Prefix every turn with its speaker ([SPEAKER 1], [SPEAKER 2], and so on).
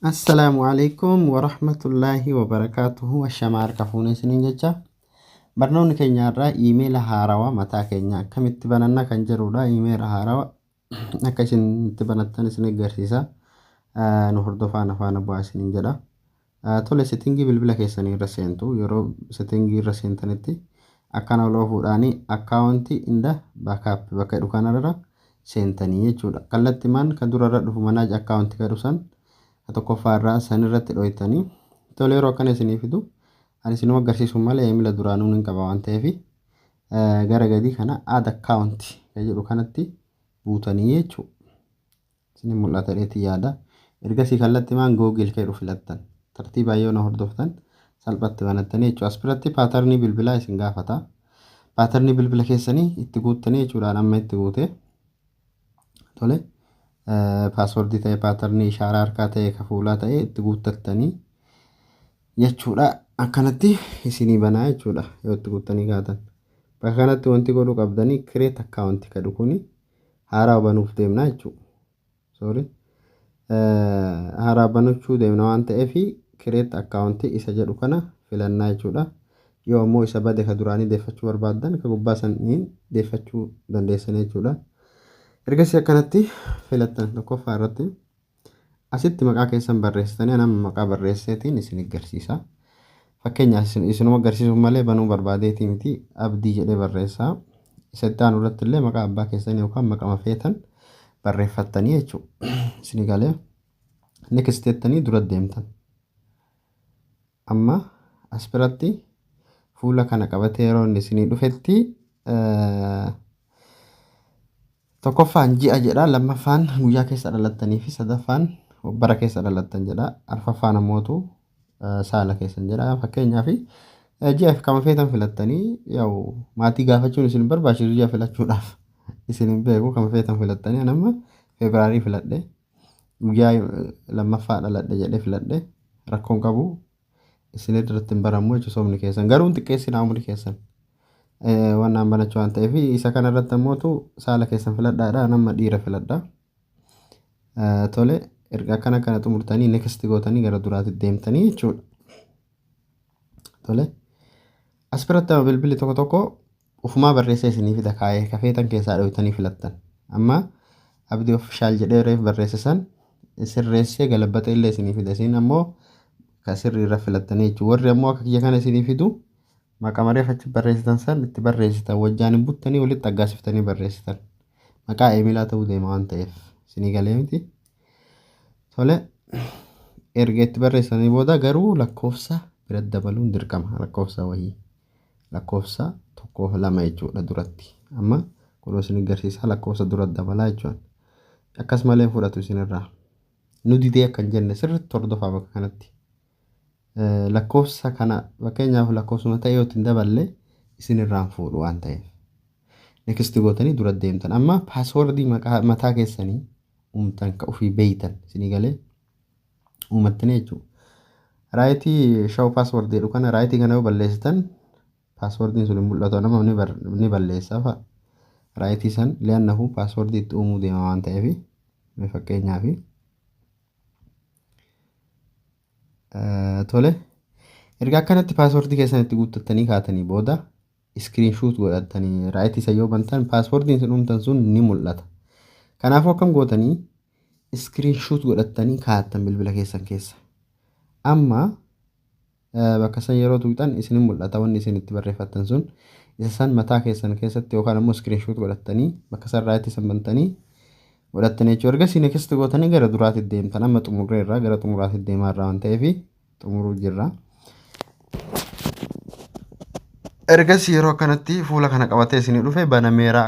[SPEAKER 1] Assalaamu alaikum warahmatullaahi wabarakaatuhu ashamaa harka fuunee isiniin jecha barnoonni keenya irraa iimeela haarawa mataa keenya akkamitti bananna kan jedhudha iimeela haarawa akka isin itti banattan isin agarsiisa nu hordofaa na faana bu'aa isiniin jedha Tole setting bilbila keessanii irra seentu yeroo setting irra seentanitti akkana ol oofuudhaani account in the backup bakka jedhu kanarra seentanii jechuudha kallattimaan ka durarra dhufu manage account ka jedhu san ka tokkoffaa irraa san irratti dhoytanii tole yeroo akkana isinii fidu ani isinuma agarsiisu malee emila duraanuun hin qaba waan ta'eef gara gadii kana add account ka jedhu kanatti buutanii jechuudha. Isinii mul'ata jedheetiin yaada. Ergasii kallatti maan Google ka jedhu filattan. Tartiibaan yoo na hordoftan salphatti banattanii jechuudha. As biratti paatarnii bilbilaa isin gaafata. Paatarnii bilbila keessanii itti guuttanii jechuudhaan amma itti guute. Tole paaswordii ta'e paatarnii ishaaraa harkaa ta'e ka fuulaa ta'e itti guuttattanii jechuudha. Akkanatti isinii banaa jechuudha yoo itti guuttanii kaatan. Bakka kanatti wanti godhuu qabdanii create account ka jedhu kuni haaraa banuuf deemna jechuudha. Sorry. Haaraa banachuu deemna waan ta'eef create account isa jedhu kana filannaa jechuudha. Yoo ammoo isa bade ka duraanii deeffachuu barbaaddan ka gubbaa saniin deeffachuu dandeessan jechuudha. Ergasii akkanatti filattan tokkoffaa irratti. Asitti maqaa keessan barreessitanii an amma maqaa barreesseetiin isin garsiisa. Fakkeenyaaf isin- isinuma garsiisuuf malee banuu barbaadeetii miti abdii jedhee barreessaa. Isa itti aanu irratti illee maqaa abbaa keessanii yookaan maqama feetan barreeffattanii jechuudha. Isin galee next jettanii dura deemtan. Amma as biratti fuula kana qabatee yeroo inni isinii dhufetti tokkoffaan ji'a jedha lammaffaan guyyaa keessa dhalattanii fi sadaffaan bara keessa dhalattan jedha arfaffaan ammootu saala keessan jedha fakkeenyaaf ji'aaf kama feetan filattanii yaa'u maatii gaafachuun isin barbaachisu ji'a filachuudhaaf isin hin beeku kama feetan filattanii anamma feebiraarii filadhe guyyaa lammaffaa dhaladhe jedhee filadhe rakkoon qabu isin irratti hin baramu jechuun soomni keessan garuu hin xiqqeessinaa umri keessan Eh, waan naan banachuu waan ta'eef isa kana irratti ammootu saala keessan filadhaadha nama dhiira filadha Eh, tole erga akkana kana xumurtanii next gootanii gara duraatti deemtanii jechuudha tole as biratti amma bilbilli tokko tokko Ofumaa barreessee isinii fida kaayee ka feetan keessaa dhooytanii filattan. Amma Abdii Official jedhee reef barreesse san sirreessee galabbaxee illee isinii fida. Isin ammoo ka sirrii irra filattanii jechuudha. Warri ammoo akka kiyya kana isinii fidu maqama reef achi barreessitan san itti barreessitan wajjaan hin buttanii walitti aggaasiftanii barreessitan. Maqaa eemilaa ta'uu deema waan ta'eef isinii galee miti. Tole erga itti barreessanii booda garuu lakkoofsa bira dabaluun dirqama lakkoofsa wayii. lakkoofsa tokko lama jechuudha duratti amma kunoo isin agarsiisaa lakkoofsa dura dabalaa jechuun akkas malee fudhatu isinirraa nu didee akkan jenne sirriitti hordofaa bakka kanatti lakkoofsa kana fakkeenyaaf lakkoofsuma ta'e yoo ittiin daballe isinirraan fuudhu waan ta'eef nekisti gootanii dura deemtan amma paaswordii mataa keessanii uumtan ka ofii beeytan isinii galee uumattanii jechuudha. Raayitii shaw password jedhu kana raayitii kana yoo balleessitan passwordin sun hin mul'atu nama ni bar- ni balleessa fa'a. Raayitii san li'annahu password itti uumuu deema waan ta'eef mee fakkeenyaaf eh, tole erga akkanatti password keessan itti guuttattanii kaatanii booda screen shoot godhattani right isa yoo bantan paaspoortiin isin uumtan sun ni mul'ata. Kanaafuu akkam gootanii screen shoot godhattanii kaa'attan bilbila keessan keessa. Amma eh, bakka san yeroo tuqxan isin hin mul'ata wanni isin itti barreeffattan sun isa san mataa keessan keessatti yookaan ammoo screen shoot godhattanii bakka san right isan bantanii godhattanii jechuudha. Ergasii next gootanii gara duraatti deemtan amma xumurreerra gara xumuraatti deemaa irraa waan ta'eefi. xumuruu jirra. Ergas yeroo kanatti fuula kana qabatee isinii dhufe banameera.